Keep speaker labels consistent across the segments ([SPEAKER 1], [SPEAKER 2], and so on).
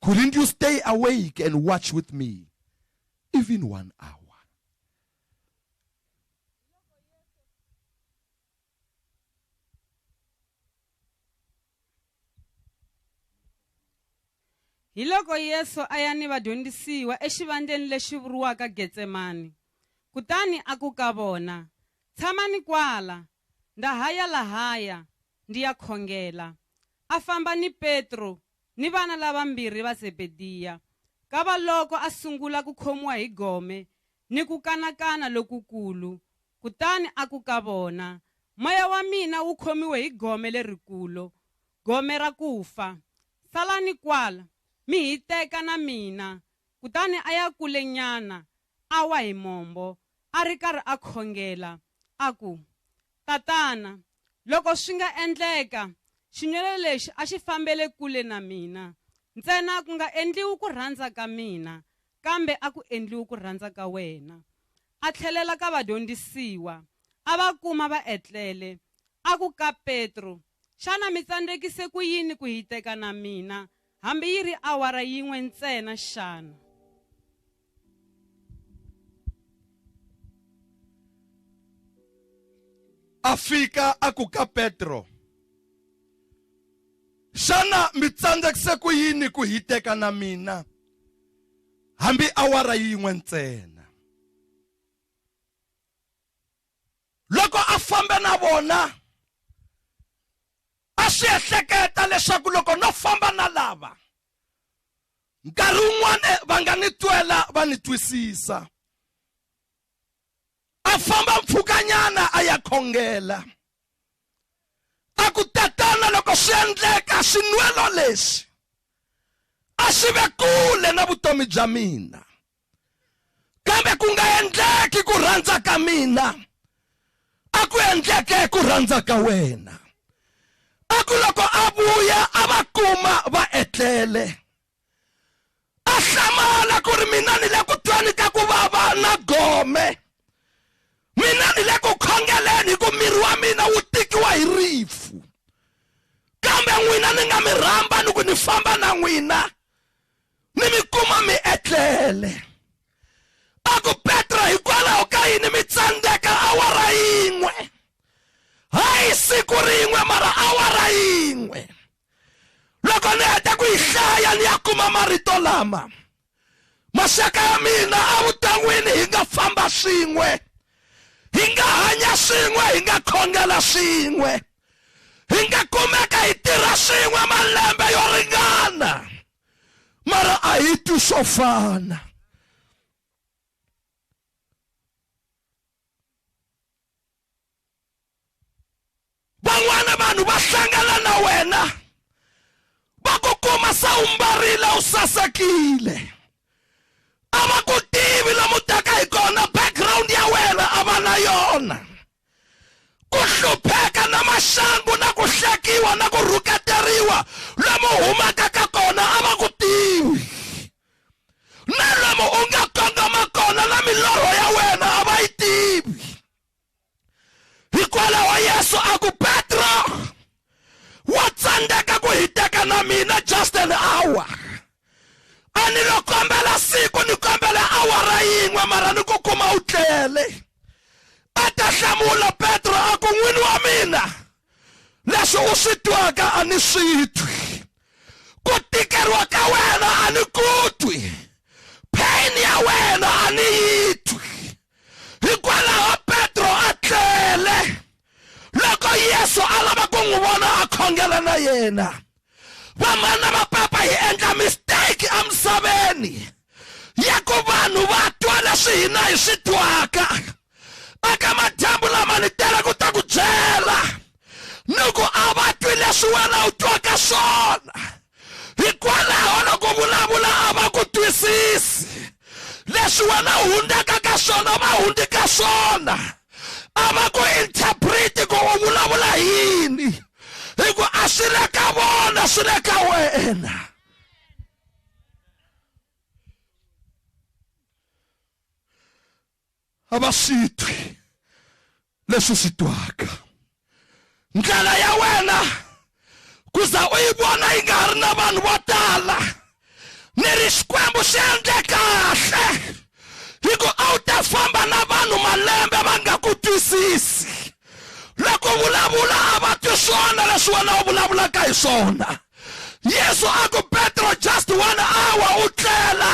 [SPEAKER 1] Couldn't you stay awake and watch with me even one hour?
[SPEAKER 2] hi loko yesu a ya ni vadyondzisiwa exivandleni lexi vuriwaka getsemani kutani a ku ka vona tshamani kwala ndza ha ya lahaya Ndi ya khongela. A famba ni Petro ni vana lavambirhi va Zebediya. Kavaloko a sungula ku khomiwa hi gome ni ku kanakana lokukulu, kutani a ku ka vona, Moya wa mina wu khomiwe hi gome lerikulo, gome ra ku fa. Salani kwala, mi hiteka na mina. Kutani a ya kulenyana, a wa hi mombo, a ri karhi a khongela, a ku, Tatana, loko swi nga endleka, xinwele lexi a xi fambele kule na mina. Ntsena ku nga endliwi ku rhandza ka mina, kambe a ku endliwi ku rhandza ka wena. A tlhelela ka vadyondzisiwa, a va kuma va etlele, a ku ka Petro, Xana mi tsandzekise ku yini ku hiteka na mina, hambi yi ri awara yin'we ntsena xana?
[SPEAKER 1] A fika a ku ka Petro, Xana mi tsandzekise ku yini ku hiteka na mina, hambi awara yin'we ntsena? loko a fambe na vona a swi ehleketa leswaku loko no famba na lava nkarhi wun'wana eh, va nga ni twela va ni twisisa a famba mpfhukanyana a ya khongela a ku tatana loko swi endleka swinwelo leswi a swi ve kule na vutomi bya mina kambe ku nga endleki ku rhandza ka mina a ku endleke ku rhandza ka wena a ku loko a vuya a va kuma va etlele a hlamala ku ri mina ni le ku tweni ka ku vava na gome mina ni le ku khongeleni hi ku miri wa mina wu tikiwa hi rifu kambe n'wina ni nga mi rhamba ni ku ni famba na n'wina mi mi kuma mi etlele a ku petro hikwalaho ka yini mi tsandzeka awara yin'we hayi siku rin'we mara awara yin'we loko ni heta ku yi hlaya ni ya kuma marito lama maxaka ya mina evuton'wini hi nga famba swin'we hi nga hanya swin'we hi nga khongela swin'we hi nga kumeka hi tirha swin'we malembe yo ringana mara a hi twi swo fana van'wana vanhu va hlangana na wena va ku kuma se u mbarile u sasekile a va ku tivi lomu taka hi kona background ya wena a va na yona ku hlupheka na maxangu na ku hlekiwa na ku rhuketeriwa lomu humaka ka kona a va ku tivi na lomu u nga kongoma kona na milorho ya wena a va yi tivi hikwalaho yesu a ku petro wa tsandzeka ku hiteka na mina just an hour a ni lo kombela siku ni kombela awara yin'we mara ni ku kuma u tlele a ta hlamula petro a ku n'wini wa mina leswi u swi twaka a ni swi twi ku tikeriwa ka wena a ni ku twi pain ya wena a ni yi twi hikwalaho petro a tlele loko yesu a lava ku n'wi vona a khongela na yena vamana va papa hi endla mistake emisaveni ya ku vanhu va twa leswi hina hi swi twaka eka madyambu lama ni tele ku ta ku byela ni ku a va twi leswi wena u twaka swona hikwalaho loko vulavula a va ku twisisi leswi wena u hundzaka ka swona va hundzi ka swona a va ku interpreti ku u vulavula yini hi ku a swi le ka vona swi le ka wena a va swi twi leswi swi twaka ndlela ya wena ku za u yi vona yi nga ha ri na vanhu vo tala ni ri xikwembu xi endle kahle hi ku a wu ta famba na vanhu malembe va nga ku twisisi loko vulavula a va twi swona leswi wena u vulavulaka hi swona yesu a ku petro just one hour u tlela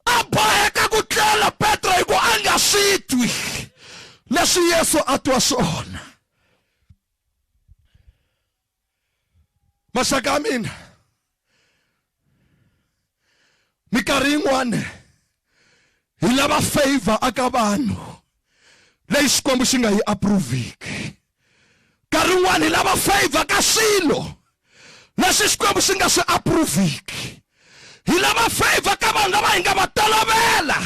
[SPEAKER 1] a boheka ku tlela petro hi ku a nga swi twi leswi yesu a twa swona maxaka ya mina mikarhi yin'wana hi lava favor aka vanhu leyi xikwembu xi nga yi approviki nkarhi wun'wana hi lava favor ka swilo leswi xikwembu xi nga swi approviki hi lava favor ka vanhu lava hi nga va tolovela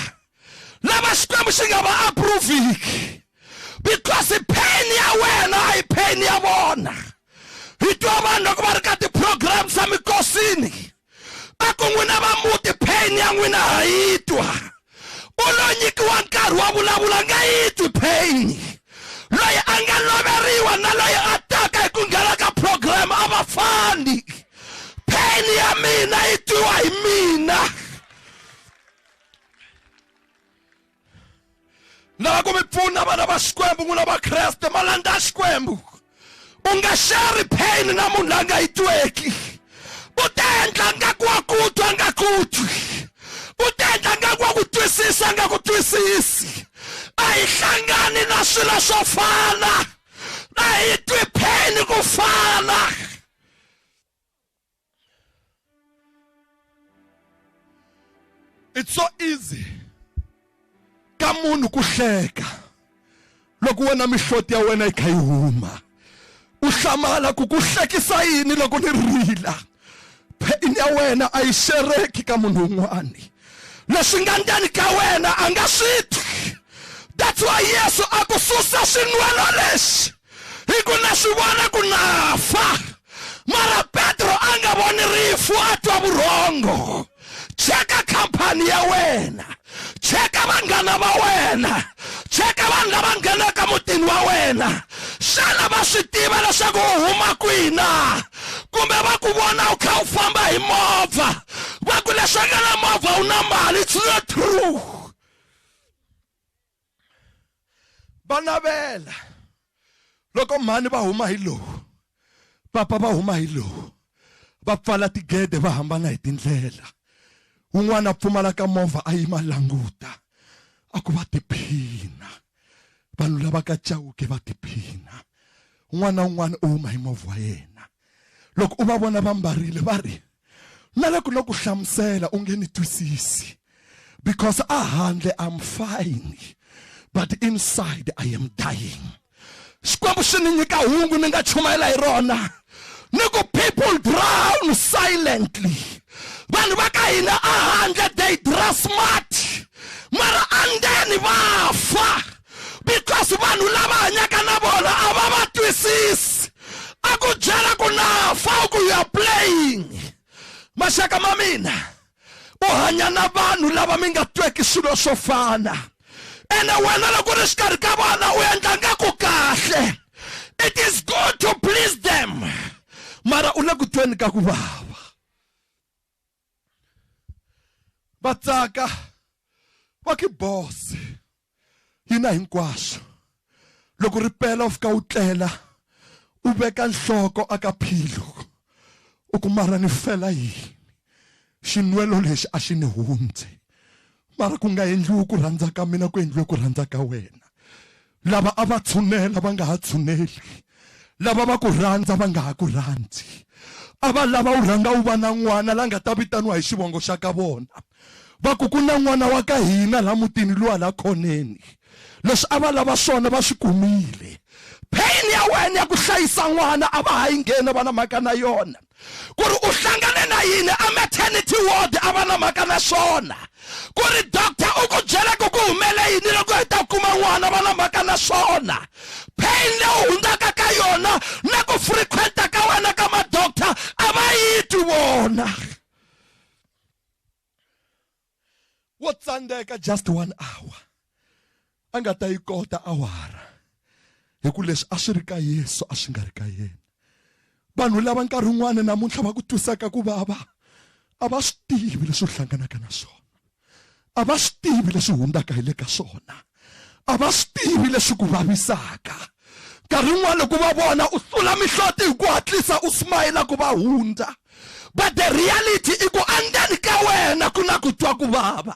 [SPEAKER 1] lava xikwembu xi nga va approviki because pain ya wena a hi pain ya vona hi twa vanhu loko va ri ka ti-program swa mikosini a ku n'wina va muti pain ya n'wina ha yi twa u lo nyikiwa nkarhi wa vulavula nga yi twi pain loyi a nga loveriwa na loyi a taka hi ku nghena ka program a va fani pain ya mina yi twiwa hi mina lava ku mi pfuna vana va xikwembu n'wina vakreste malandza ya xikwembu u nga sheri pain na munhu la nga yi tweki u ta endla nga ku wa ku twa nga ku twi u ta endla nga ku wa ku twisisa nga ku twisisi a hi hlangani na swilo swo fana a hi twi pain ku fana it's so easy ka munhu ku hleka loko wena mihloti ya wena yi kha yi huma u hlamala ku ku hlekisa yini loko ni rila pheni ya wena a yi xereki ka munhu un'wani leswi nga ndzeni ka wena a nga swi twi that's why yesu a ku susa xinwelo lexi hi ku na swi vona ku na fa mara petro a nga voni rifu a twa vurhongo cheka khampani ya wena cheka vanghana va wena cheka vanhu lava nghenaka mutini wa wena xana va swi tiva leswaku u huma kwina kumbe va ku vona u kha u famba hi movha va ku leswaku na movha u na mali it's not true va navela loko mhani va huma hi lowu papa va huma hi lowu va pfala tigede va hambana hi tindlela un'wana a pfumalaka movha a yima languta a ku va tiphina vanhu lava ka chawuke va tiphina un'wana na un'wana u huma hi movha wa yena loko u va vona va mbarile va ri Nale ku loku hlamusela u nge ni twisisi because a handle I'm fine but inside I am dying. Xikwembu xi ni nyika hungu ni nga chumayela hi rona ni ku people drown silently vanhu va ka hina a handle they dress smart mara andeni va fa because vanhu lava hanyaka na vona a va va twisisi a ku byela ku nafa u ku you're playing maxaka ma mina u hanya na vanhu lava mi nga tweki swilo swo fana ene wena loko ri xikarhi ka vona u endla nga ku kahle it is good to please them mara u le ku tweni ka ku vava va tsaka va ki boss yina hinkwaswo loko ri pela u fika u tlela u veka nhloko aka philo u ku mara ni fela yini xinwelo lexi a xi ni hundze mara ku nga endliwi ku rhandza ka mina ku endliwe ku rhandza ka wena Lava a va tshunela va nga ha tshuneli, lava va ku rhandza va nga ha ku rhandzi. A va lava u rhanga u va na n'wana la nga ta vitaniwa hi xivongo xa ka vona, va ku ku na n'wana wa ka hina la mutini luwa la khoneni. Leswi a va lava swona va swi kumile. Pain ya wena ya ku hlayisa n'wana a va ha yi ngheni a va na mhaka na yona. ku ri u hlangane na yini a maternity ward a va na mhaka na swona ku ri doctor u ku byela ku ku humele yini loko hi ta kuma n'wana va na mhaka na swona pain leyi hundzaka ka yona na ku frequenta ka wena ka madoctor a va yi twi vona wo tsandzeka just one hour a nga ta yi kota awara hi ku leswi a swi ri ka yesu a swi nga ri ka yena vanhu lava nkarhi wun'wana namuntlha va ku twisaka ku vava a va swi tivi leswi u hlanganaka na swona a va swi tivi leswi hundzaka hi le ka swona a va swi tivi leswi ku vavisaka nkarhi wun'wana ku va vona u sula mihloti hi ku hatlisa u smayila ku va hundza but the reality i ku andzeni ka wena ku na ku twa ku vava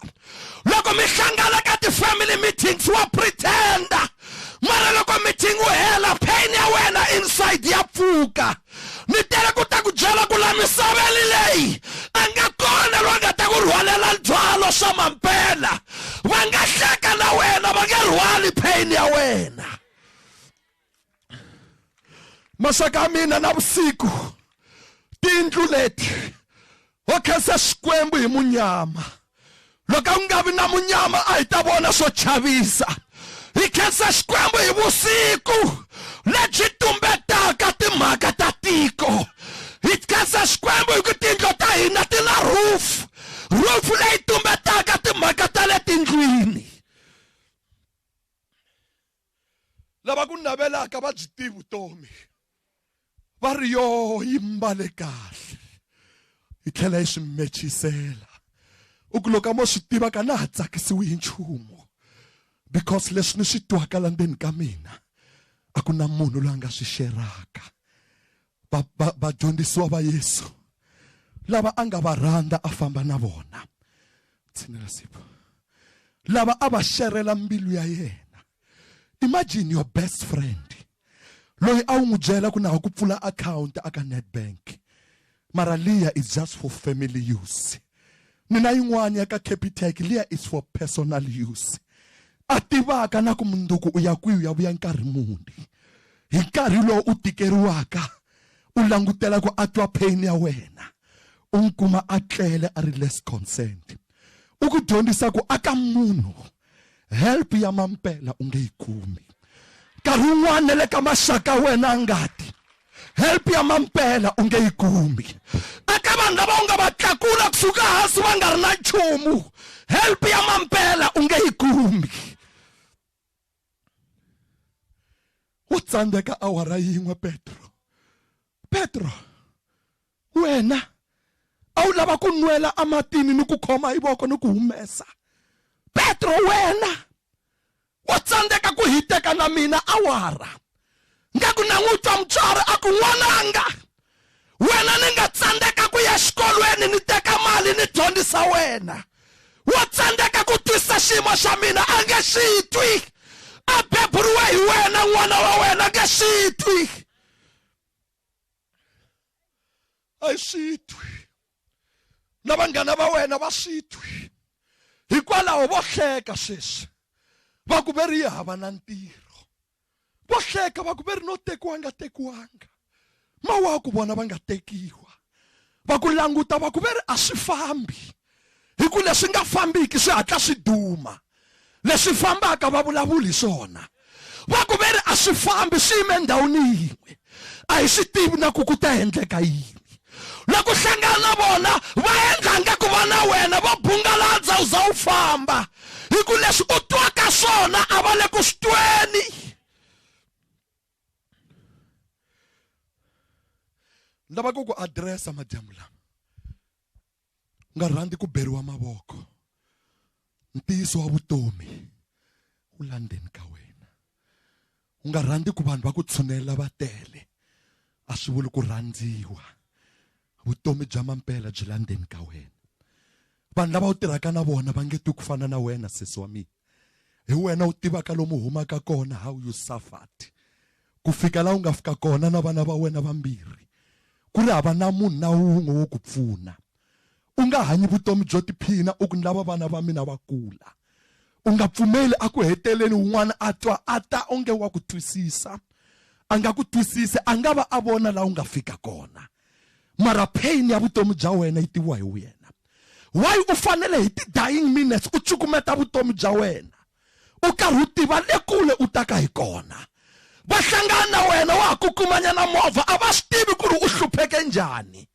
[SPEAKER 1] loko mi hlangana ka ti-family meetings wa pretenda mara loko meeting wu hela pain ya wena inside ya pfuka mi tele ku ta ku byela ku la misaveni leyi a nga kona loyi nga ta ku rhwalela byalo swa mampela va nga hleka na wena va nge rhwali pain ya wena maxaka ya mina na vusiku tiyindlu leti wo khensa xikwembu hi munyama loko a ku nga vi na munyama a hi ta vona swo chavisa hi khensa xikwembu hi vusiku lebyi tumbetaka timhaka ta tiko hi khensa xikwembu hi ku tindlo ta hina ti na rufu rufu leyi tumbetaka timhaka ta le tindlwini lava ku navelaka va byi tivi vutomi va ri yo yi mbale kahle yi tlhela yi swi mechisela u ku loko a mo swi tiva ka na ha tsakisiwi hi nchumu because leswi ni swi twaka la ndzeni ka mina a ku na munhu loyi a nga swi xeraka vadyondzisiwa va, va, va yesu lava a nga va rhandza a famba na vona tshinela sipo lava a va xerhela mbilu ya yena imagine your best friend loyi a wu n'wi byela ku na ha ku pfula akhawunti aka netbank mara liya is just for family use Mina yin'wana ya ka Capitec liya is for personal use. A tivaka na ku munduku u ya kwihi u ya vuya nkarhi muni. Hi nkarhi lowu u tikeriwaka u langutela ku a twa pain ya wena u n'wi kuma a tlele a ri less concerned. U ku dyondzisa ku aka munhu help ya mampela u nge yi kumi nkarhi wun'wana na le ka maxaka wena a ngati help ya mampela u nge yi kumi eka vanhu lava u nga va tlakula kusuka hansi va nga ri na nchumu help ya mampela u nge yi kumi u tsandzeka awara yin'we petro petro Wena a wu lava ku nwela ematini ni ku khoma hi voko ni ku humesa. Petro, wena wa tsandzeka ku hiteka na mina awara. Ngaku na n'wi twa mutswari a ku, N'wananga, wena ni nga tsandzeka ku ya xikolweni ni teka mali ni dyondzisa wena. Wa tsandzeka ku twisisa xiyimo xa mina, a nge xi twi. A beburiwe hi wena, n'wana wa wena a nge xi twi. a yi swi twi na vanghana va wena va swi twi hikwalaho vo hleka sweswi va ku ve ri yi hava na ntirho vo hleka va ku ve ri no tekiwa nga tekiwanga mawaku vona va nga tekiwa va ku languta va ku ve ri a swi fambi hi ku leswi nga fambiki swi hatla swi duma leswi fambaka va vulavuli swona va ku ve ri a swi fambi swi yime endhawini yin'we a hi swi tivi na ku ku ta endleka yini loko hlangana na vona va endla nga ku va na wena va bungaladza u za u famba hi ku leswi u twaka swona a va le ku swi tweni ni lava ku ku adiresa madyambu lama nga rhandzi ku beriwa mavoko ntiyiso wa vutomi wu la ndzeni ka wena u nga rhandzi ku vanhu va ku tshunela va tele a swi vuli ku rhandziwa vutomi bya mampela byi la ndzeni ka wena vanhu lava u tirhaka na vona va nge twi ku fana na wena sesi wa mina hi wena u tivaka lomu humaka kona how you suffered ku fika laha u nga fika kona na vana va wena vambirhi ku ri hava na munhu na wun'we wo ku pfuna u nga hanyi vutomi byo tiphina u ku ni lava vana va mina va kula u nga pfumeli a ku heteleni un'wana a twa a ta onge wa ku twisisa a nga ku twisisi a nga va a vona laha u nga fika kona mara pain ya vutomi bya wena yi tiviwa hi wena why u fanele hi ti-dying minutes u cukumeta vutomi bya wena u karhi u tiva le kule u taka hi kona va hlangana na wena wa ha ku kumanyana movha a va swi tivi ku ri u hlupheke njhani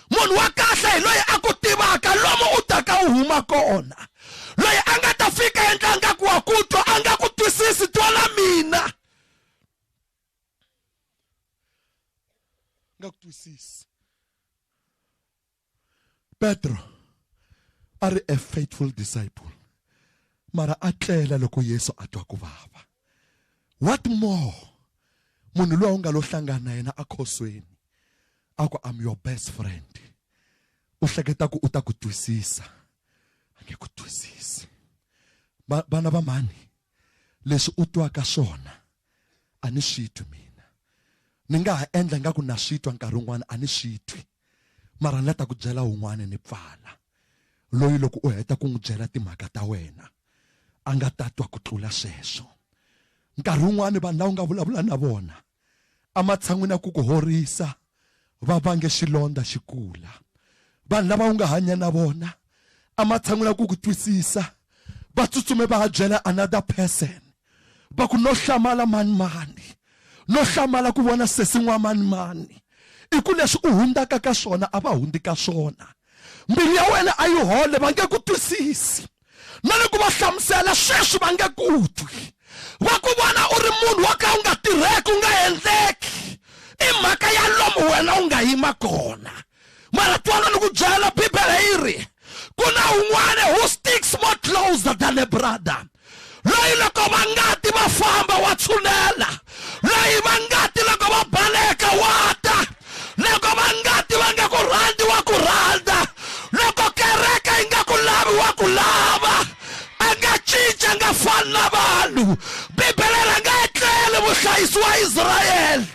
[SPEAKER 1] munhu wa kahle hi loyi a ku tivaka lomu u taka u huma kona loyi a nga ta fika endla nga ku wa ku twa a nga ku twisisi twala mina nga ku twisisi Petro a ri a faithful disciple mara a tlela loko Yesu a twa ku vava what more munhu loyi u nga lo hlangana na yena akhosweni a ku I'm your best friend u hleketa ku u ta ku twisisa a nge ku twisisi vana va mhani leswi u twaka swona a ni swi twi mina ni nga ha endla nga ku na swi twa nkarhi wun'wana a ni swi twi mara ni la ta ku byela un'wana ni pfala loyi loko u heta ku n'wi byela timhaka ta wena a nga ta twa ku tlula sweswo nkarhi wun'wani vanhu lava u nga vulavula na vona ematshan'wini ya ku ku horisa va vange xilondza xi kula vanhu lava u nga hanya na vona amatshan'wini ya ku ku twisisa va tsutsume va ya byela another person va ku no hlamala mani mani no hlamala ku vona sesi n'wa mani mani i ku leswi u hundzaka ka swona a va hundzi ka swona mbilu ya wena a yi hole va nge ku twisisi na loko va hlamusela sweswi va nge ku twi va ku vona u ri munhu wo ka u nga tirheki u nga endleki i mhaka ya lomu wena u nga yima kona mara twala ni ku byela bibele yi ri ku na un'wana who sticks more closer than a brother loyi loko va ngati va famba wa tshunela loyi va ngati loko va baleka wa ta loko va ngati va nga ku rhandzi wa ku rhandza loko kereke yi nga ku lavi wa ku lava a nga cinca a nga fani na vanhu bibele ra nga etleli vuhlayisi wa israyele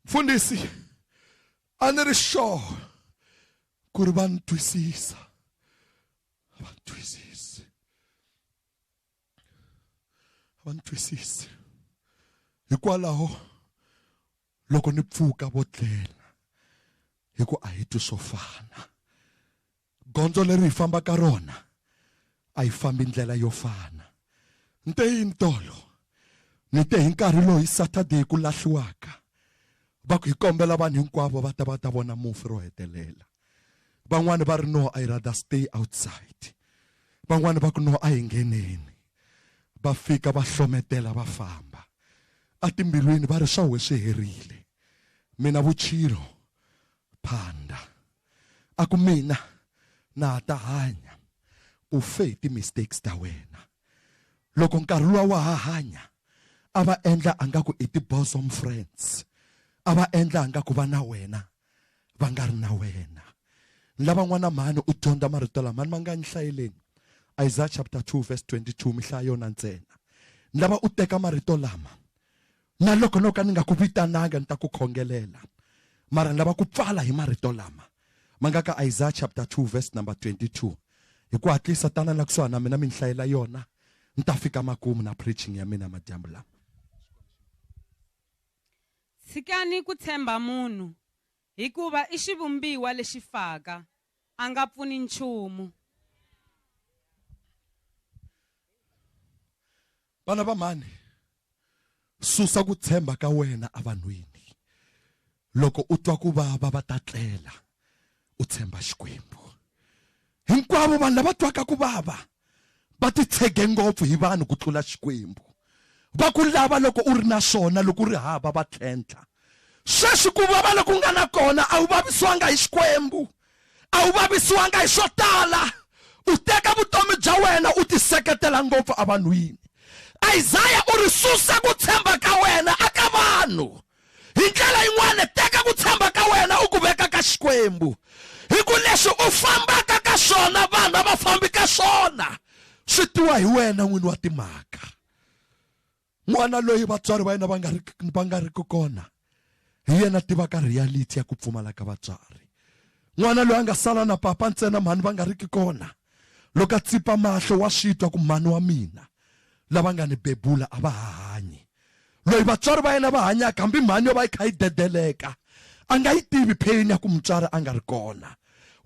[SPEAKER 1] mfundhisi a ni ri sure ku ri va ni twisisa va ni twisisi va ni twisisi hikwalaho loko ni pfuka vo tlela hi ku a hi twi swo fana Gondzo leri hi fambaka rona a hi fambi ndlela yo fana ni te yini tolo ni te hi nkarhi loyi saturday ku lahliwaka va ku hi kombela vanhu hinkwavo va ta va ta vona mufi ro hetelela van'wani va ri no i rather stay outside van'wani va ku no a hi ngheneni va fika va hlometela va famba atimbilwini va ri swa we swi herile mina vuchilo phanda a ku mina na ha ta hanya u fe hi ti-mistakes ta wena loko nkarhi luwa wa ha hanya a va endla a nga ku i ti-bosom friends a va endla a nga ku va na wena va nga ri na wena lavan'wana mhani u dyondza marito lama ni ma nga ni hlayeleni isaiah chapter 2 verse 22 mi hlaya yona ntsena ni lava u teka marito lama na loko no ka ni nga ku vitananga ni ta ku khongelela mara ni lava ku pfala hi marito lama ma nga ka isaya chapter 2 verse number 22 hi ku hatlisa tana la kusuhani na mina mi ni hlayela yona ni ta fika makumu na preaching ya mina madyambu lama
[SPEAKER 2] tshikani ku tshemba munhu Hikuva i xivumbiwa lexi faka, a nga pfuni nchumu.
[SPEAKER 1] Vana va mhani, susa ku tshemba ka wena evanhwini. Loko u twa ku vava va ta tlela, u tshemba Xikwembu. Hinkwavo vanhu lava twaka ku vava va titshege ngopfu hi vanhu ku tlula Xikwembu. Va ku lava loko u ri na swona, loko u ri hava va tlhentlha. Sweswi ku vava loku u nga na kona a wu vavisiwanga hi Xikwembu, a wu vavisiwanga hi swo tala. U teka vutomi bya wena u tiseketela ngopfu evanhwini. Isaya u ri susa ku tshemba ka wena eka vanhu. hi ndlela yin'wana teka ku tshemba ka wena u ku veka ka xikwembu hi ku leswi u fambaka ka swona vanhu a va fambi ka swona swi tiwa hi wena n'wini wa timhaka n'wana loyi vatswari va yena va nga ri va nga ri ku kona hi yena tivaka reality ya ku pfumala ka vatswari n'wana loyi a nga sala na papa ntsena mhani va nga ri ki kona loko a tsipa mahlo wa swi twa ku mhani wa mina lava nga ni bebula a va ha hanyi loyi vatswari va yena va hanyaka hambi mhani yo va yi kha yi dedeleka a nga yi tivi pheyini ya ku mutswari a nga ri kona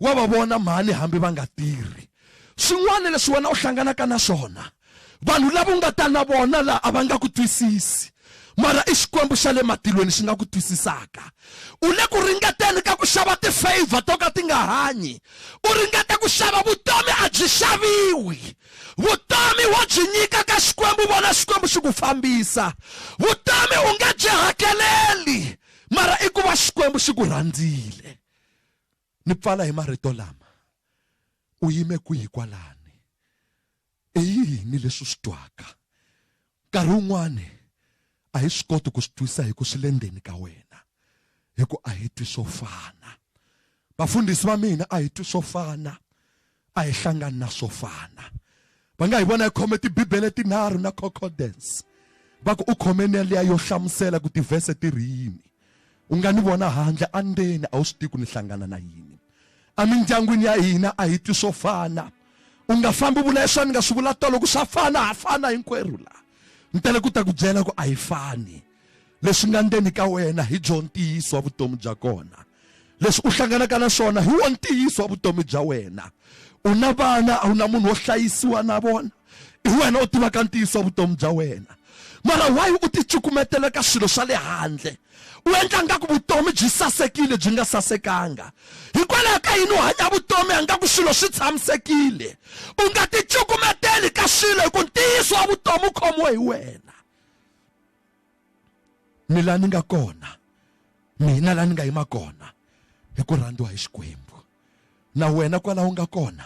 [SPEAKER 1] wa va vona mhani hambi va nga tirhi swin'wana leswi wena u hlanganaka na swona vanhu lava u nga ta na vona laha a va nga ku twisisi mara i xikwembu xa le matilweni xi nga ku twisisaka u le ku ringeteni ka ku xava tifavor to ka ti nga hanyi u ringeta ku xava vutomi a byi xaviwi vutomi wo byi nyika ka xikwembu vona xikwembu xi ku fambisa vutomi u nge byi hakeleli mara i ku va xikwembu xi ku rhandzile ni pfala hi marito lama u yime kwihi kwalani i yini leswi u swi twaka Nkarhi wun'wana a hi swi koti ku swi twisa hi ku swi le ndzeni ka wena, hi ku a hi twi swo fana. Vafundhisi va mina a hi twi swo fana, a hi hlangani na swo fana. Va nga hi vona hi khome Tibibele tinharhu na khokhodence, va ku, U khome na liya yo hlamusela ku tivhese ti ri yini. U nga ni vona handle a ndzeni a wu swi tivi ku ni hlangana na yini emindyangwini ya hina a hi twi swo fana u nga fambi vula leswi a ni nga swi vula tolo ku swa fana ha fana hinkwerhu la ni tele ku ta ku byela ku a hi fani leswi nga ndzeni ka wena hi byo ntiyiso wa vutomi bya kona leswi u hlanganaka na swona hi wo ntiyiso wa vutomi bya wena u na vana a wu na munhu wo hlayisiwa na vona i wena u tivaka ntiyiso wa vutomi bya wena mara why u ticukumetela ka swilo swa le handle u endla ngaku vutomi byi sasekile byi nga sasekanga hikwalaho ka yini u hanya vutomi angaku swilo swi tshamisekile u nga ticukumeteli ka swilo hi ku ntiyiso wa vutomi u khomiwe hi wena mi la ni nga kona mina la ni nga yima kona hi ku rhandziwa hi xikwembu na wena kwalaho u nga kona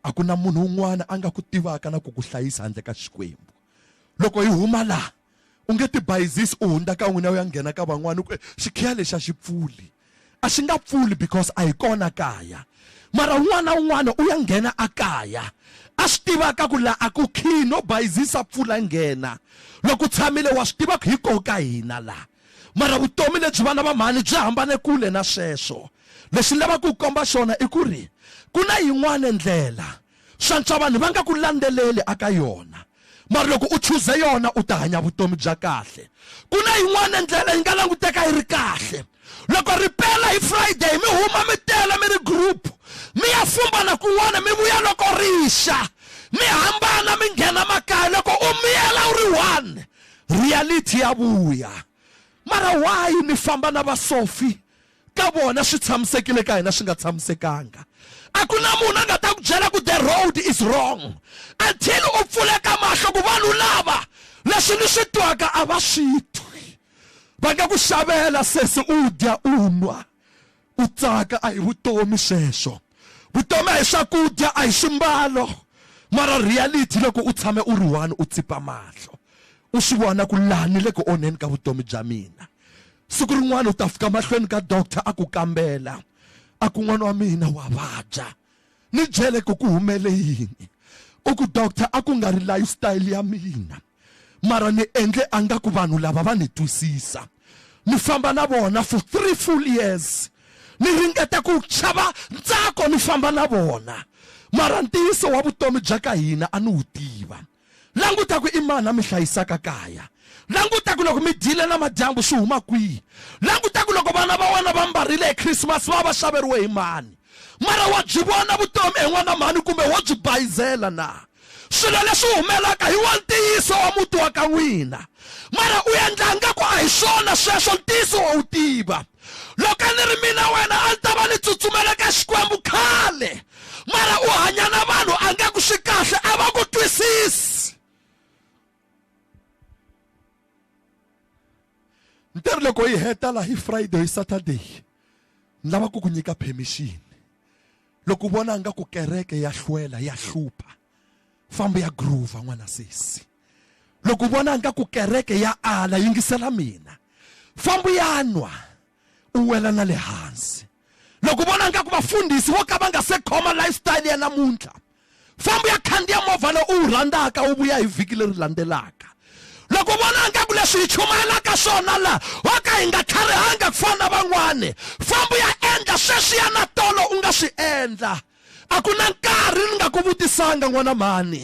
[SPEAKER 1] a ku na munhu un'wana a nga ku tivaka na ku ku hlayisa handle ka xikwembu loko hi huma laha u nge tibayizisi u hundza ka n'wina u ya nghena ka van'wana ku xikhiya lexi a xi pfuli a xi nga pfuli because a hi kona kaya mara un'wana un'wana u ya nghena a kaya a swi tivaka ku laha a ku khiyi no bayizisa pfula nghena loko u tshamile wa swi tiva ku hi koho ka hina laha mara vutomi lebyi vana va mhani byi hambane kule na sweswo lexi ni lavaka ku komba xona i ku ri ku na yin'wana ndlela swantswa vanhu va nga ku landzeleli aka yona mara loko u chuze yona u ta hanya vutomi bya kahle ku na yin'wana ndlela yi nga languteka yi ri kahle loko ripela hi friday mi huma mi tele mi ri group mi ya fumbana kun'wana mi vuya loko rixa mi hambana mi nghena makaya loko u miyela u ri one reality ya vuya mara why mi famba na vasofi ka vona swi tshamisekile ka hina swi nga tshamisekanga a ku na munhu a nga ta ku byela ku the road is wrong until u pfuleka mahlo ku vanhu lava leswi ni swi twaka a va swi twi va nga ku xavela sesi u dya u nwa U tsaka a hi vutomi sweswo. Vutomi a hi swakudya, a hi swimbalo. Mara reality loko u tshame u ri one u tsipa mahlo u swi vona ku laha ni le ku onheni ka vutomi bya mina. Siku rin'wana u ta fika mahlweni ka doctor a ku kambela a ku n'wana wa mina wa vabya. Ni byele ku ku humele yini? U ku doctor a ku nga ri lifestyle ya mina mara ni endle a nga ku vanhu lava va ni twisisa ni famba na vona for three full years ni ringeta ku chava ntsako ni famba na vona mara ntiyiso wa vutomi bya ka hina a ni wu tiva languta ku i mani a mi hlayisaka kaya languta ku loko mi dyile na madyambu swi huma kwihi languta ku loko vana va wena va mbarile hi khrisimasi va va xaveriwe hi mani mara wa byi vona vutomi hi n'wana mhani kumbe wo byi bayizela na swilo leswi humelaka hi wa ntiyiso wa muti wa ka n'wina mara u endla nga ku a hi swona sweswo ntiyiso wa wu tiva loko a ni ri mina wena a ni ta va ni tsutsumela ka xikwembu khale mara u hanya na vanhu a nga ku swi kahle a va ku twisisi ni ta ri loko yi heta laha hi friday hi saturday ni lava ku ku nyika permission loko u vona nga ku kereke ya hlwela ya hlupha fambi ya groova n'wana sesi loko u vona nga ku kereke ya ala yingisela mina fambu ya nwa u wela na le hansi loko u vona nga ku vafundhisi vo ka va nga se khoma lifestyle ya namuntlha fambu ya khandziya movha lowu u wu rhandzaka u vuya hi vhiki leri landzelaka loko u vona nga ku leswi hi chumayelaka swona laha wo ka hi nga tlharihanga ku fana na van'wani fambu ya endla sweswiya na tolo u nga swi endla A ku na nkarhi ni nga ku vutisanga n'wana mhani,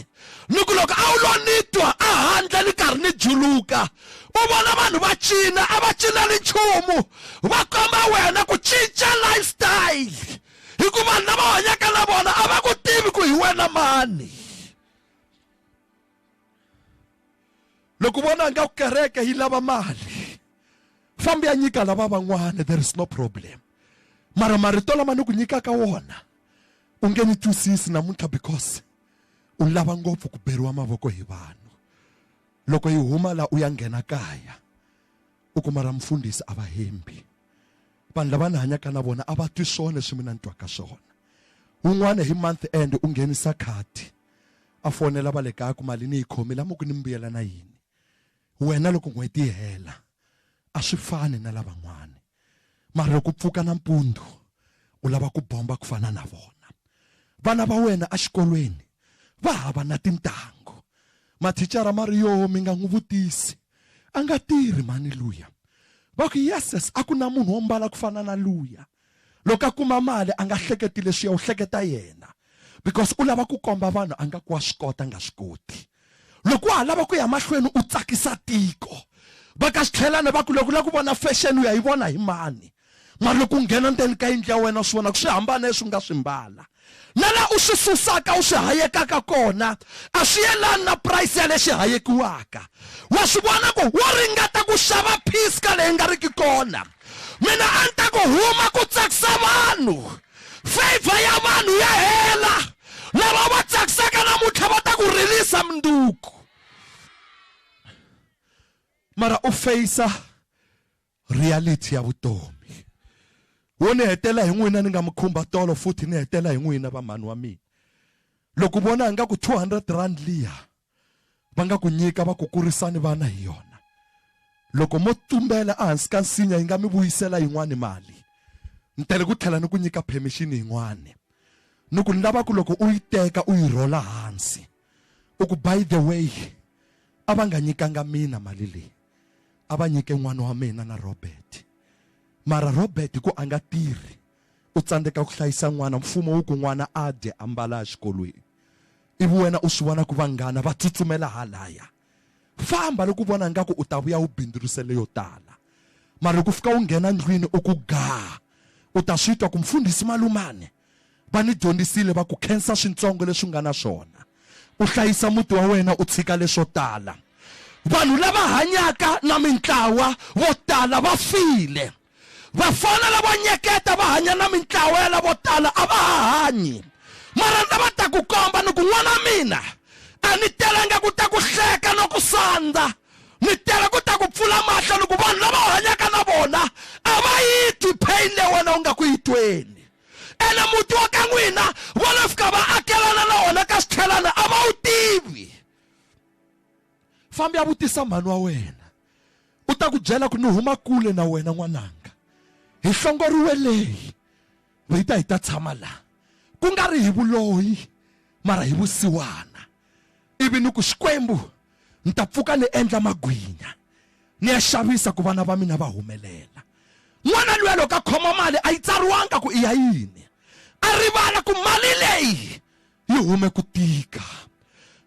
[SPEAKER 1] ni ku loko a wu lo ni twa ehandle ni karhi ni juluka u vona vanhu va cina, a va cineli nchumu, va komba wena ku cinca lifestyle hi ku vanhu lava hanyaka na vona a va ku tivi ku hi wena mani. loko vona nga ku kereke yi lava mali fambi ya nyika lava van'wana there is no problem mara marito lama ni ku nyikaka wona u nge ni twisisi namuntlha because u lava ngopfu ku beriwa mavoko hi vanhu loko yi huma la u ya nghena kaya u kuma ra mfundhisi a va hembi vanhu lava ni hanyaka na vona a va twi swona leswi mina ni twaka swona wun'wana hi month end u nghenisa khadi a fonela va le kaya ku mali ni yi khomile amuku ni mbuyela na yini wena loko n'hweti yi hela a swi fani na lavan'wana mara loko pfuka nampundzu u lava ku bomba ku fana na vona vana va wena exikolweni va hava na tintangu mathicara ma ri yoho mi nga n'wi vutisi a nga tirhi mhani luya va ku yeses a ku na munhu wo mbala ku fana na luya loko a kuma mali a nga hleketi leswiya u hleketa yena because u lava ku komba vanhu a nga ku wa swi kota nga swi koti loko wa ha lava ku ya mahlweni u tsakisa tiko va ka xitlhelana va ku loko u lava ku vona fashion u ya yi vona hi mani mara loko u nghena ndzeni ka yindlu ya wena swi vona ku swi hambana leswi nga swi mbala Na la u swi susaka u swi hayekaka kona a swi yelani na price ya lexi hayekiwaka. Wa swi vona ku wo ringeta ku xava peace ka leyi nga riki kona. Mina a ni ta ku huma ku tsakisa vanhu. Favour ya vanhu ya hela. Lava va tsakisaka namuntlha va ta ku rilisa mundzuku. Mara u face reality ya vutomi wo ni hetela hi n'wina ni nga mi khumba tolo futhi ni hetela hi n'wina vamhani wa mina loko vona nga ku 200 rand liya va nga ku nyika va ku kurisani vana hi yona loko mo tumbela ehansi ka nsinya yi nga mi vuyisela yin'wani mali ni tele ku tlhela ni ku nyika permission yin'wani ni ku ni lava ku loko u yi teka u yi rhola hansi u ku by the way a va nga nyikanga mina mali leyi a va nyike n'wana wa mina na robert mara robert hi ku a nga tirhi u tsandzeka ku hlayisa n'wana mfumo wu ku n'wana a dye a mbala exikolweni ivi wena u swi vona ku vanghana va tsutsumela halaya famba loko u vona ingaku u ta vuya u bindzurisele yo tala mara loko u fika u nghena ndlwini u ku gaa u ta swi twa ku mfundhisi malumane va ni dyondzisile va ku khensa swintsongo leswi nga na swona u hlayisa muti wa wena u tshika leswo tala vanhu lava hanyaka na mintlawa vo tala va file vafana lavo nyeketa va hanya na mintlawa ya lavo tala a va ha hanyi mara ndza va ta ku komba ni ku n'wana mina a ni telanga ku ta ku hleka no ku sandza mi tela ku ta ku pfula mahlo loko vanhu lava u hanyaka na vona a va yi twi pain leyi wena u nga ku yi tweni ene muti wa ka n'wina va lo fika va akelana na wona ka xitlhelana a va wu tivi fambi ya vutisa mhani wa wena u ta ku byela ku ni huma kule na wena n'wananga hi hlongoriwe leyi va yi ta hi ta tshama laha ku nga ri hi vuloyi mara hi vusiwana ivi ni ku xikwembu ni ta pfuka ni endla magwinya ni ya xavisa ku vana va mina va humelela n'wana luya loko a khoma mali a yi tsariwanga ku i ya yini a rivala ku mali leyi yi hume ku tika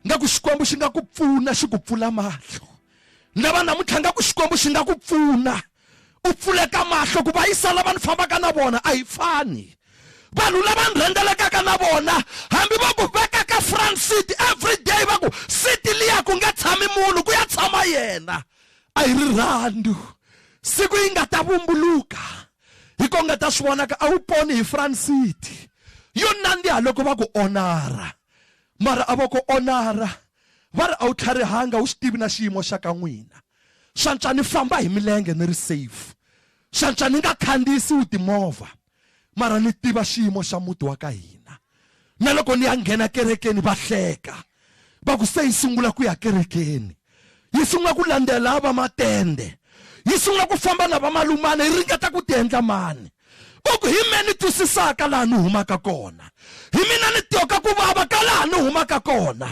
[SPEAKER 1] nga ku xikwembu xi nga ku pfuna xi ku pfula mahlo ni lava namuntlha nga ku xikwembu xi nga ku pfuna u pfuleka mahlo ku va yi sala vanhu fambaka na vona a yi fani vanhu lava ni rhendzelekaka na vona hambi va ku veka ka front seat every day va ku siti liya ku nga tshami munhu ku ya tshama yena a yi rirhandu siku yi nga ta vumbuluka hi ko nga ta swi vonaka a wu poni hi front seat yo nandziha loko va ku onara mara a va ku onara va ri a wu tlharihanga wu swi tivi na xiyimo xa ka n'wina swantswa ni famba hi milenge ni ri safe swantswa ni nga khandziyisiwi timovha mara ni tiva xiyimo xa muti wa ka hina na loko ni ya nghena kerekeni va hleka va ku se yi sungula ku ya kerekeni yi sungula ku landzela va matende yi sungula ku famba na vamalumana yi ringeta ku ti endla mani va ku hi me ni twisisaka laha ni humaka kona hi mina ni tyoka ku vava ka laha ni humaka kona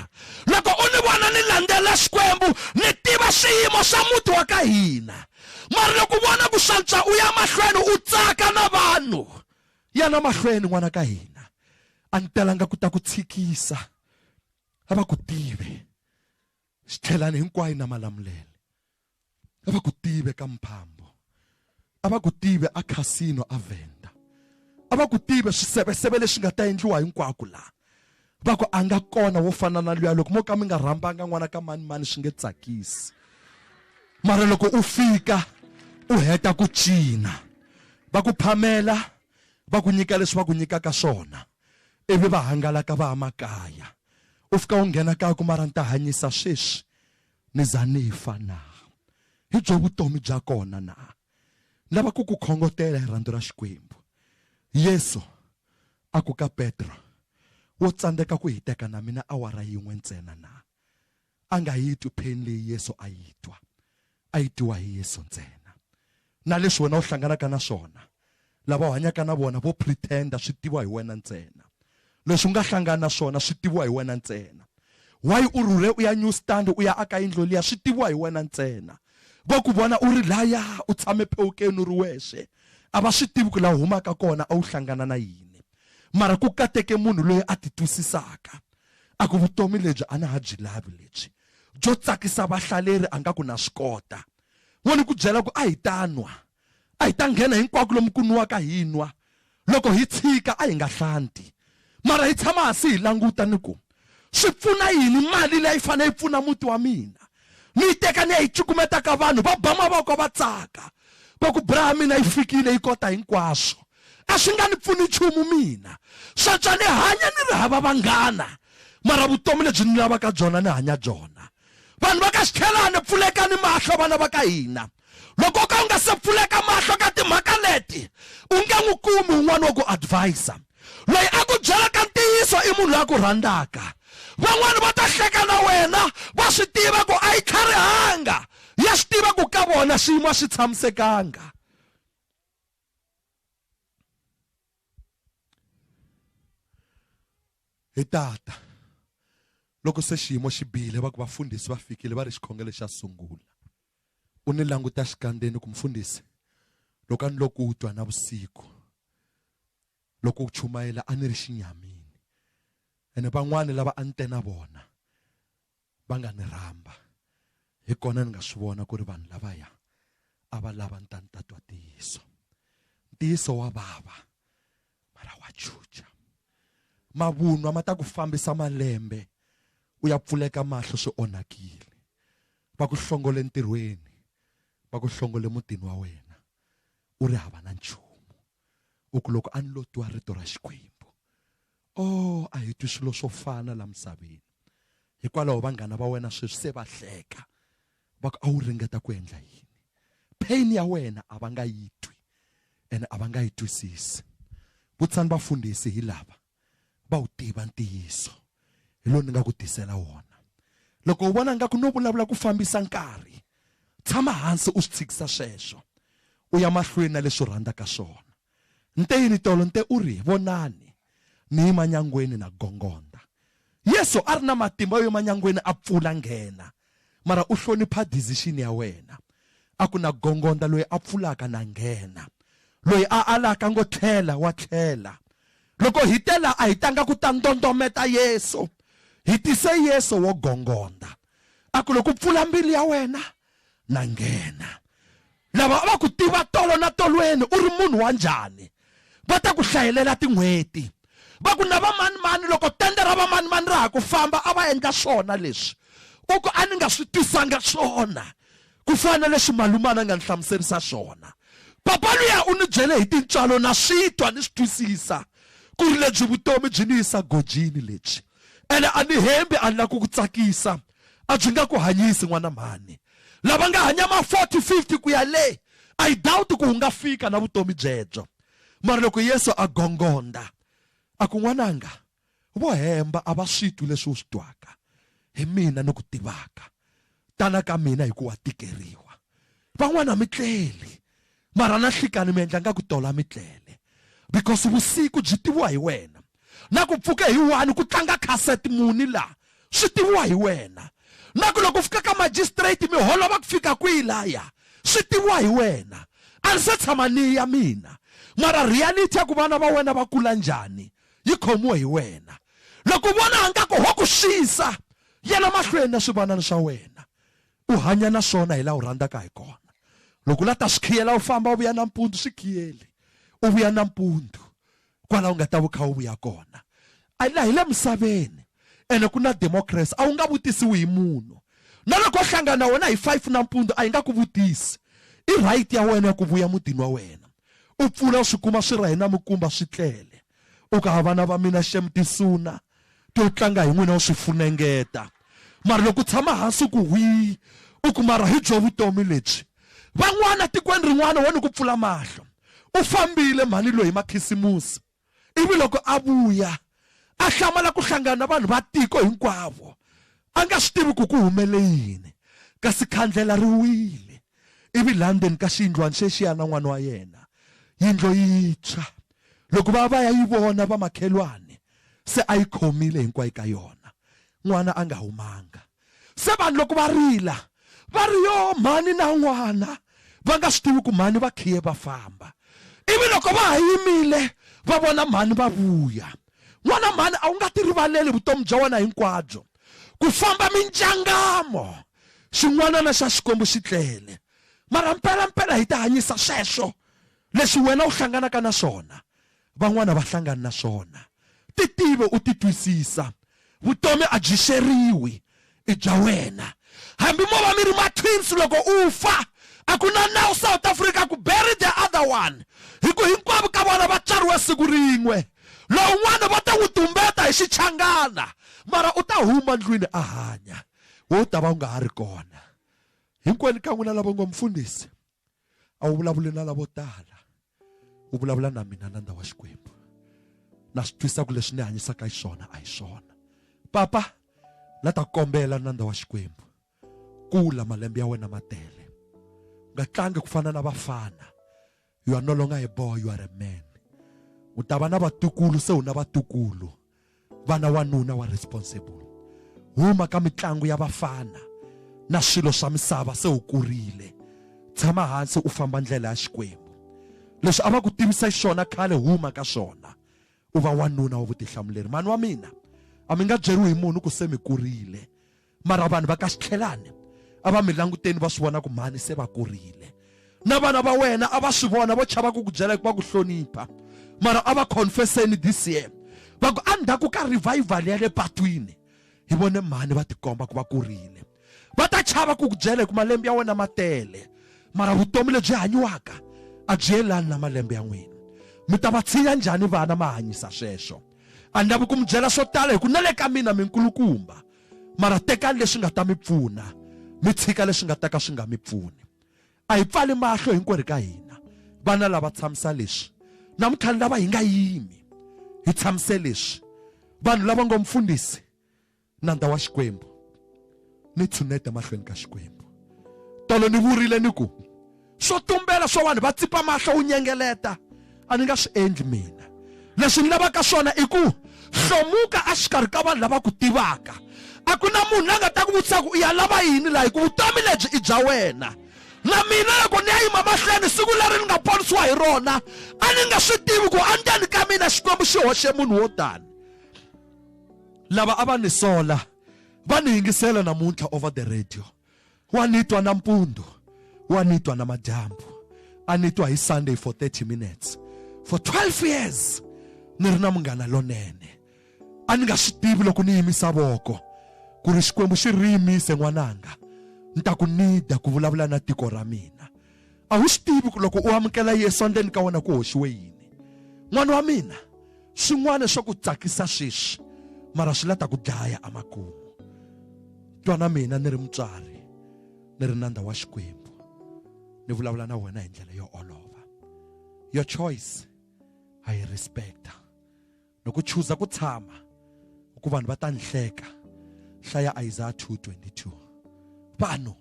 [SPEAKER 1] loko u ni vona ni landzela xikwembu ni tiva xiyimo xa muti wa ka hina mara loko u vona ku swantswa u ya mahlweni u tsaka na vanhu yana mahlweni n'wana ka hina a ni telanga ku ta ku tshikisa a va ku tive xi tlhelani hinkwayo na malamulelo a va ku tive ka mphambo a va ku tive a casino a venda a va ku tive swiseveseve leswi nga ta endliwa hinkwako laha va ku a nga kona wo fana na luya loko mo ka mi nga rhambanga n'wana ka mani mani swi nge tsakisi mara loko u fika u heta ku cina va ku phamela va ku nyika leswi va ku nyikaka swona ivi va hangalaka va ya makaya u fika u nghena kaya ku mara ni ta hanyisa sweswi Ni za ni fa na? Hi byo vutomi bya kona na? Ni lava ku ku khongotela hi rhandzu ra Xikwembu. Yesu a ku ka Petro, Wo tsandzeka ku hiteka na mina awara yin'we ntsena na? A nga yi twi pain leyi Yesu a yi twa. A yi twiwa hi Yesu ntsena. Na leswi wena u hlanganaka na swona, lava u hanyaka na vona vo pretender swi tiviwa hi wena ntsena. Leswi u nga hlangana na swona swi tiviwa hi wena ntsena. Why u rhurhe u ya New Stand u ya aka yindlo liya swi tiviwa hi wena ntsena. Vo ku vona u ri laya u tshame phewukeni u ri wexe a va swi tivi ku la u humaka kona a wu hlangana na yini. Mara ku kateke munhu loyi a ti twisisaka a ku vutomi lebyi a na ha byi lavi lebyi byo tsakisa vahlaleri a nga ku na swi kota. Wo ni ku byela ku, A hi ta nwa. A hi ta nghena hinkwako lomu ku nwaka hi nwa. Loko hi tshika, a hi nga hlanti. Mara hi tshama hansi hi languta ni ku, Swi pfuna yini mali leyi a yi fanele yi pfuna muti wa mina? Ni yi teka ni ya yi cukumeta ka vanhu, va ba mavoko va tsaka, va ku, Bra ya mina yi fikile, yi kota hinkwaswo. A swi nga ni pfuni nchumu mina. Sweswi a ni hanya ni ri hava vanghana, mara vutomi lebyi ni lavaka byona ni hanya byona. vanhu va ka xikhelani pfulekani mahlo vana va ka hina loko ka u nga se pfuleka mahlo ka timhaka leti u nge n'wi kumi un'wana wa ku advisa loyi a ku byelaka ntiyiso i munhu loyi a ku rhandzaka van'wani va ta hleka na wena va swi tiva ku a yi tlharihanga ya swi tiva ku ka vona swiyimo a swi tshamisekanga hi tata loko se xiyimo xi bihile va ku vafundhisi va fikile va ri xikhongelo xa sungula u ni languta xikandzeni ku mfundhisi loko a ni loko u twa na vusiku loko u chumayela a ni ri xinyamini ene van'wani lava a ni te na vona va nga ni rhamba hi kona ni nga swi vona ku ri vanhu lavaya a va lava ni ta ni ta twa ntiyiso ntiyiso wa vava mara wa chucha mavunwa ma ta ku fambisa malembe u ya pfuleka mahlo swi onhakile va ku hlongole ntirhweni va ku hlongole mutini wa wena u ri hava na nchumu u ku loko a ni lo twa rito ra xikwembu o oh, a hi twi swilo swo fana la misaveni hikwalaho vanghana va wena sweswi se va hleka va ku a wu ringeta ku endla yini pain ya wena a va nga yi twi ene a va nga yi twisisi vutisani vafundhisi hi lava va wu tiva ntiyiso hi lowu ni nga ku tisela wona loko u vona ngaku no vulavula ku fambisa nkarhi tshama hansi u swi tshikisa sweswo u ya mahlweni na leswi u rhandzaka swona nte yini tolo nte u ri vonani ni yima nyangweni na gongonda yesu a ri na matimba yo yima nyangweni a pfula nghena Mara u hlonipha decision ya wena. A ku na gongondla loyi a pfulaka na nghena. Loyi a alaka ngo tlhela wa tlhela. Loko hi te la a hi tanga ku ta ndondometa Yesu. Hi tise Yesu wo gongondza. A ku loko u pfula mbilu ya wena na nghena. lava va ku tiva tolo na tolweni u ri munhu wa njhani va ta ku hlayelela tin'hweti va ku na vamanimani loko tende ra vamanimani ra ha ku famba a va endla swona leswi u ku a ni nga swi tisanga swona ku fana na leswi malumana a nga ni hlamuserisa swona papa luya u ni byele hi tintswalo na swi twa ni swi twisisa ku ri lebyi vutomi byi ni yisa gojini lebyi ene a ni hembi a ni lava ku ku tsakisa a byi nga ku hanyisi n'wana mhani lava nga hanya ma 40 50 ku ya le i doubt ku u nga fika na vutomi byebyo mara loko yesu a gongonda a ku n'wananga vo hemba a va swi twi leswi u swi twaka hi mina ni ku tivaka tana ka mina hi ku wa tikeriwa van'wana mi tleli mara na nhlikani mi endla nga ku tola mi tlele because vusiku byi tiviwa hi wena na ku pfuka hi wani ku tlanga cassette muni laha swi tiviwa hi wena na ku loko fika ka magistrate mi holova ku fika kwihi laya swi tiviwa hi wena a ni se tshama ni ya mina mara reality ya ku vana va wena va kula njhani yi khomiwe hi wena loko vona nga ku ho ku xisa yena mahlweni na swivanana swa wena U hanya na swona hi laha u rhandzaka hi kona. Loko u lava ta swi khiyela u famba u vuya nampundzu swi khiyeli. U vuya nampundzu kwalaho u nga ta va u kha u vuya kona. A laha hi le misaveni ene ku na democracy a wu nga vutisiwi hi munhu. Na loko ho hlangana na wena hi five nampundzu a hi nga ku vutisi. I right ya wena ya ku vuya mutini wa wena. U pfula u swi kuma swi rahe na minkumba swi tlele. u ka ha vana va mina xem tisuna to tlanga hi n'wina u swi funengeta mara loko u tshama hansi ku hwi u ku mara hi byo vutomi lebyi van'wana tikweni rin'wana wo ni ku pfula mahlo u fambile mhani loyi hi makhisimusi ivi loko a vuya a hlamala ku hlangana na vanhu va tiko hinkwavo a nga swi tivi ku ku humele yini kasi khandlela ri wile ivi laha ndzeni ka xiyindlwana xexiya na n'wana wa yena yindlo yintshwa loko va va ya yi vona vamakhelwani se a yi khomile hinkwayo ka yona n'wana a nga humanga se vanhu loko va rila va ri yo mhani na n'wana va nga swi tivi ku mhani va khiye va famba ivi loko va ha yimile va vona mhani va vuya n'wana mhani a wu nga tirivaleli vutomi bya wena hinkwabyo ku famba minjangamo xin'wanana xa xikwembu xi tlele mara mpelampela hi ti hanyisa sweswo Leswi wena u hlanganaka na swona, van'wana a va hlangani na swona. Titive u titwisisa. Vutomi a byi xeriwi, i bya wena. Hambi mo va mi ri ma-twins, loko u fa, a ku na nawu South Africa ku bury the other one, hi ku hinkwavo ka vona va tswariwe siku rin'we. Lowun'wana va ta n'wi tumbeta hi xichangana, mara u ta huma ndlwini a hanya. Wena u ta va u nga ha ri kona. Hinkwenu ka n'wina lava u nga mufundhisi. a wu vulavuli na lavo tala u vulavula na mina nandza wa xikwembu na swi twisa ku leswi ni hanyisaka hi swona a hi swona papa la ta kombela nandza wa xikwembu kula malembe ya wena ma tele u nga tlangi ku fana na vafana you are no longer a boy you are a man u ta va na vatukulu se u na vatukulu vana wanuna wa responsible huma ka mitlangu ya vafana na swilo swa misava se u kurile tshama hansi u famba ndlela ya xikwembu leswi a va ku tivisa xona khale huma ka swona u va wanuna wa vutihlamuleri mani wa mina a mi nga byeriwi hi munhu ku se mi kurile mara vanhu va ka xitlhelani a va mi languteni va swi vona ku mhani se va kurile na vana va wena a va swi vona vo chava ku ku byela hikuva ku hlonipha mara a va confesseni this year va ku endzhaku ka revival ya le patwini hi vone mhani va tikomba ku va kurile va ta chava ku ku byela hi ku malembe ya wena ma tele mara vutomi lebyi hanyiwaka a byi yelani na malembe ya n'wina mi ta va tshinya njhani vana ma hanyisa sweswo a ni lavi ku mi byela swo tala hi ku na le ka mina minkulukumba mara tekani leswi nga ta mi pfuna mi tshika leswi nga ta ka swi nga mi pfuni a hi pfali mahlo hinkwerhu ka hina vana lava tshamisa leswi na mintlhanu lava hi nga yimi hi tshamise leswi vanhu lava ngo mfundhisi nandza wa xikwembu ni tshunete mahlweni ka xikwembu tolo ni vurile ni ku swo tumbela swa vanhu va tsipa mahlo u nyengeleta a ni nga swi endli mina leswi ni lavaka swona i ku hlomuka exikarhi ka vanhu lava ku tivaka a ku na munhu la nga ta ku vutisa ku u ya lava yini laha hi ku vutomi lebyi i bya wena na mina loko ni ya yima mahlweni siku leri ni nga ponisiwa hi rona a ni nga swi tivi ku endzeni ka mina xikwembu xi hoxe munhu wo tani lava a va ni sola va ni yingisela namuntlha over the radio wa ni twa nampundzu wa ni twa namadyambu a ni twa hi sunday for 30 minutes for 12 years ni ri na munghana lonene a ni nga swi tivi loko ni yimisa voko ku ri xikwembu xi ri yimise n'wananga ni ta ku nida ku vulavula na tiko ra mina a wu swi tivi ku loko u amukela yesu endleni ka wena ku hoxiwe yini n'wana wa mina swin'wana swa ku tsakisa sweswi mara swi la ta ku dlaya emakumu twa na mina ni ri mutswari ni ri nandza wa xikwembu ni vulavula na wena hi ndlela yo olova your choice ha yi respecta loko u chuza ku tshama ku vanhu va ta ni hleka hlaya isaya 222 vanhu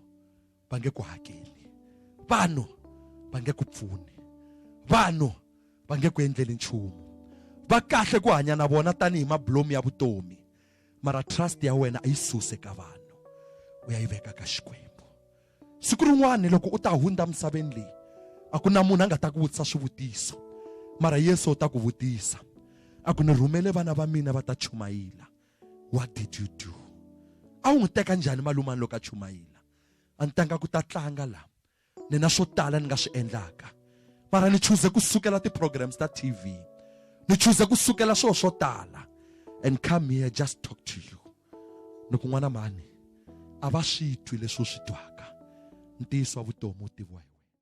[SPEAKER 1] va nge ku hakeli vanhu va nge ku pfuni vanhu va nge ku endleli nchumu va kahle ku hanya na vona tanihi mabulomu ya vutomi mara trust ya wena a yi suse ka vanhu u ya yi veka ka xikwembu siku rin'wana loko u ta hundza misaveni leyi a ku na munhu a nga ta ku vutisa swivutiso mara yesu u ta ku vutisa a ku ni rhumele vana va mina va ta chumayila what did you do a wu n'wi teka njhani malumani loko a chumayila a ni tanga ku ta tlanga la ni na swo tala ni nga swi endlaka mara ni chuze ku sukela ti-programs ta tv ni chuze ku sukela swilo swo tala and come here just talk to you ni ku n'wana mhani a va swi twi leswi u swi twaka ntiyiso wa vutomi wu tiviwa